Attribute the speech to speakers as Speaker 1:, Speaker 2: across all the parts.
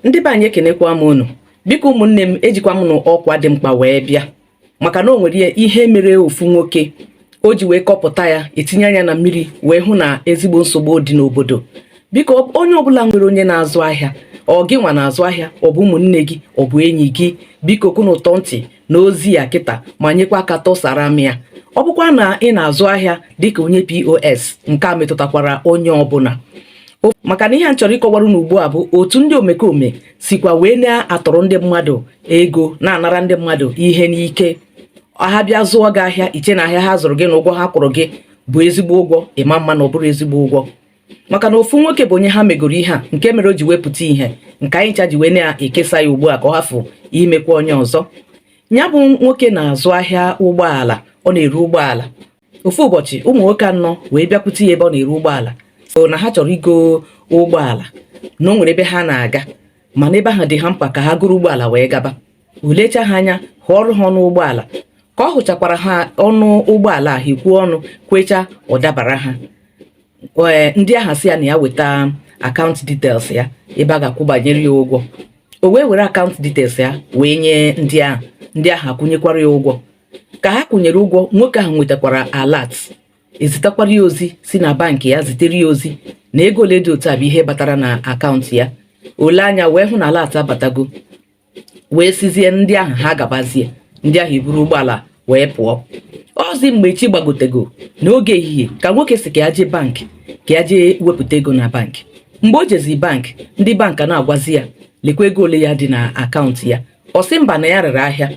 Speaker 1: ndị be anyị ekenekwa m unu biko ụmụnne m ejikwa m n'ọkwa dị mkpa wee bịa maka na o nwere ihe mere ofu nwoke o ji wee kọpụta ya etinye anya na mmiri wee hụ na ezigbo nsogbu dị n'obodo biko onye ọbụla nwere onye na-azụ ahịa ọ gị nwa na-azụ ahịa ọ bụ ụmụnne gị ọ bụ enyi gị biko ka unu tọọ ntị na ozi a kịta ma nyekwa aka tụsara m ya ọ bụkwa na ị na-azụ ahịa dịka onye POS nke a metụtakwara onye ọbụla maka na ihe m chọrọ ịkọwara unu ugbu a bụ otu ndị omekome sikwa wee na-atọrọ ndị mmadụ ego na-anara ndị mmadụ ihe n'ike ha bịa zụọ gị ahịa i chee na ahịa ha zụrụ gị na ụgwọ ha kwụrụ gị bụ ezigbo ụgwọ ị ma-ama na ọ bụrọ ezigbo ụgwọ maka na ofu nwoke bụ onye ha megoro ihe a nke mere o ji wee pụta ìhè nke anyị ncha ji wee na-ekesa ya ugbu a ka ọ hafụ imekwa onye ọzọ nya bụ nwoke na-azụ ahịa ụgbọala ọ na-ere ụgbọala ofu ụbọchị ụmụ nwoke anọ wee bịakwute ya ebe ọ na-ere ụgbọala sị na ha chọrọ igo ụgbọala na o nwere ebe ha na-aga mana ebe ahụ dị ha mkpa ka ha goro ụgbọala wee gaba o lecha ha anya hụọrụ ha ọnụ ụgbọala ka ọ hụchakwara ha ọnụ ụgbọala ahụ e kwuo ọnụ kwecha ọ dabara ha ee ndị ahụ asị ya na ya weta account details ya ebe a ga-akwụbanyere ya ụgwọ o wee were account details ya wee nye ndị ahụ ndị ahụ akwụnyekwara ya ụgwọ ka ha kwụnyere ụgwọ nwoke ahụ nwetakwara alert e zitakwara ya ozi si na bank ya zitere ya ozi na ego ole dị otu a bụ ihe batara na account ya o lee anya wee hụ na alert abatago wee sịzie ndị ahụ ha gabazie ndị ahụ eburu ụgbọala wee pụọ ọ zi mgbe chi gbagotego n'oge ehihie ka nwoke sị ka ya jee bank ka ya jee wepụta ego na bank mgbe o jezi bank ndị bank ana-agwazi ya lekwa ego ole ya dị na account ya ọ sị mba na ya rere ahịa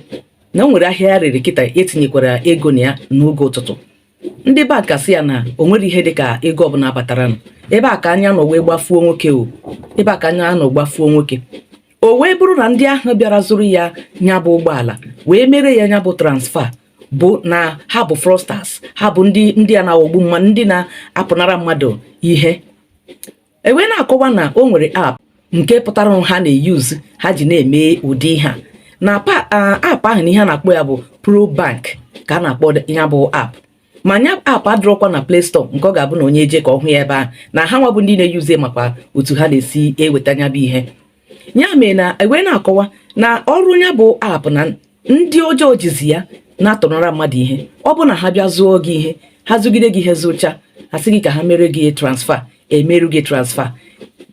Speaker 1: na o nwere ahịa ya rere kịta e tinyekwara ego na ya n'oge ụtụtụ ndị bank asị ya na o nwerọ ihe dị ka ego ọbụla bataranụ ebe a ka anya nọ wee gbafuo nwoke o ebe a ka anya nọ gbafuo nwoke o wee bụrụ na ndị ahụ bịara zụrụ ya nya bụ ụgbọala wee mere ya nya bụ transfer na ha bụ fraudsters ha bụ ndị ndị a na-aghọgbu mmadụ ndị na-apụnara mmadụ ihe e wee na-akọwa na o nwere app nke pụtara ha na-euse ha ji na-eme ụdị ihe a na app ahụ na ihe a na-akpọ ya bụ ProBank ka a na-akpọ ya bụ app ma nya app adịrọkwa na Play Store nke ọ ga-abụ na onye jee ka ọ hụ ya ebe ahụ na ha nwa bụ ndị na-euse makwa otu ha na-esi eweta nya bụ ihe ya mee na e wee na-akọwa na ọrụ ya bụ app na ndị ọjọọ jizi ya na-atọnara mmadụ ihe ọ bụ na ha bịa zụọ gị ihe ha zụgide gị ihe zụcha ha sị gị ka ha mere gị transfer e meere gị transfer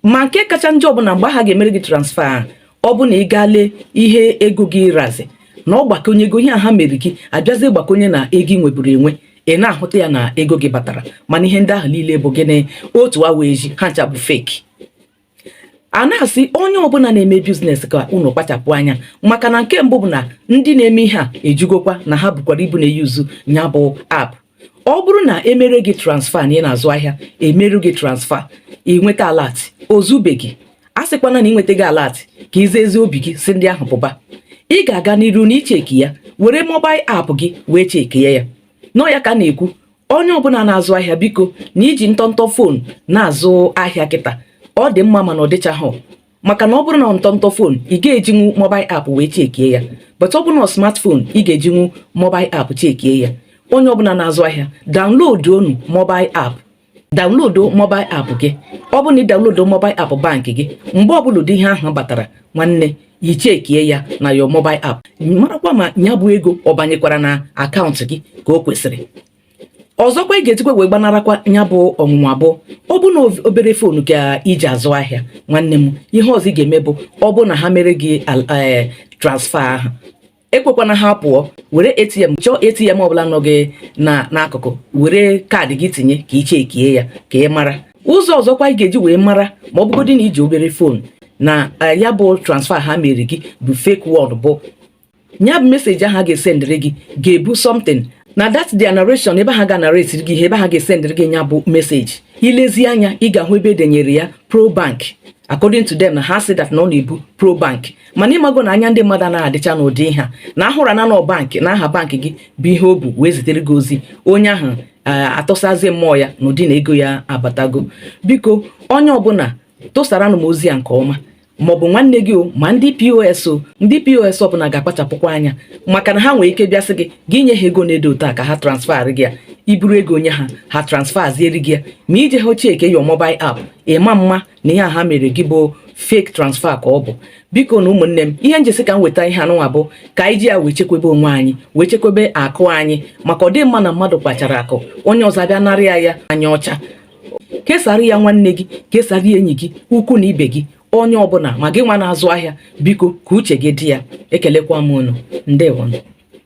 Speaker 1: ma nke kacha njọ bụ na mgbe ha ga-emere gị transfer ahụ ọ bụ na ị gaa lee ihe ego gị razi na ọ gbakọnye ego ihe a ha mere gị abịazie gbakọnye na ego ị nweburu enwe ị na-ahụta ya na ego gị batara mana ihe ndị ahụ niile bụ gịnị otu awa eji ha ncha bụ fake a na-asị onye ọbụla na-eme biznes ka unu kpachapụ anya maka na nke mbụ bụ na ndị na-eme ihe a ejigokwa na ha bụkwara ibu na-eyuzu ya bụ app ọ bụrụ na e mere gị transfa na ị na-azụ ahịa e merụ gị transfa ị nweta alat o zubeghị asịkwana na ị nwetago alat ka i ji ezi obi gị sị ndị ahụ pụba ị ga-aga n'iru n'ịcheki ya were mobail app gị wee chekie ya na ọ ya ka a na-ekwu onye ọbụla na-azụ ahịa biko na i ji ntọntọ fon na-azụ ahịa kịta ọ dị mma mana ọ dịchaghị maka na ọ bụrụ na ntọntọ fon ị ga-ejinwu mobil app wee chekie ya but ọ bụrụ na smartphone ị ga-ejinwu mobil app chekie ya onye ọbụla na-azụ ahịa downloaduonu mobil app download mobil app gị ọ bụrụ na ị download mobil app bank gị mgbe ọbụla ụdị ihe ahụ batara nwanne ị chekie ya na your mobile app marakwa ma ya bụ ego ọ banyekwara na akaụntụ gị ka o kwesịrị ọzọkwa ị ga-ejikwa wee gbanarakwa ya bụ ọnwụnwa bụ ọ bụ na obere fonu ka i ji azụ ahịa nwanne m ihe ọzọ ị ga-eme bụ ọ bụ na ha mere gị eh, transfa ahụ ekwekwana ha pụọ were atm chọọ atm ọbụla nọ gị na n'akụkụ were kaadị gị tinye ka ị chekie ya ka ị mara ụzọ ọzọkwa ị ga-eji wee mara ma ọ bụgodị na i ji obere fon na eh, ya bụ transfa ha mere gị bụ fake one bụ ya bụ meseji ahụ a ga-esendịrị gị ga-ebu something na that their narration ebe ha ga narrate gị ihe ebe ha ga-esendịrị gị ya bụ meseji i lezie anya ị ga-ahụ ebe e denyere ya pro bank according to them na ha sị that na ọ na-ebu pro bank mana ị mago na anya ndị mmadụ na-adịcha n'ụdị ihe a na a hụra na ọ bankị na aha bankị gị bụ ihe o bu wee zitere gị ozi onye ahụ eh, atụsazi mmụọ ya n'ụdị na ego ya abatago biko onye ọbụla tụsaranụ m ozi a nke ọma maọbụ nwanne gị o ma ndị pos o ndị pos ọbụla ga-akpachapụkwa anya maka na ha nwere ike bịa sị gị gị nye ha ego na-edo otu a ka ha transfer gị ya i buru ego nye ha ha transferziere gị ya ma i jeha chekie your mobile app ị ma ma na ihe a ha mere gị bụ fake transfer ka ọ bụ bikonụ ụmụnne m ihe m ji sị ka m weta ihe anụnwa bụ ka anyị ji ya wee chekwebe onwe anyị wee chekwebe akụ anyị maka ọ dị mma na mmadụ kpachara akụ onye ọzọ abịa narị ya ya anya ọcha kesara ya nwanne gị kesara ya enyi gị ikwu na ibe gị onye ọbụla ma gị nwa na-azụ ahịa biko ka uche gị dị ya ekelekwa m unu ndewonụ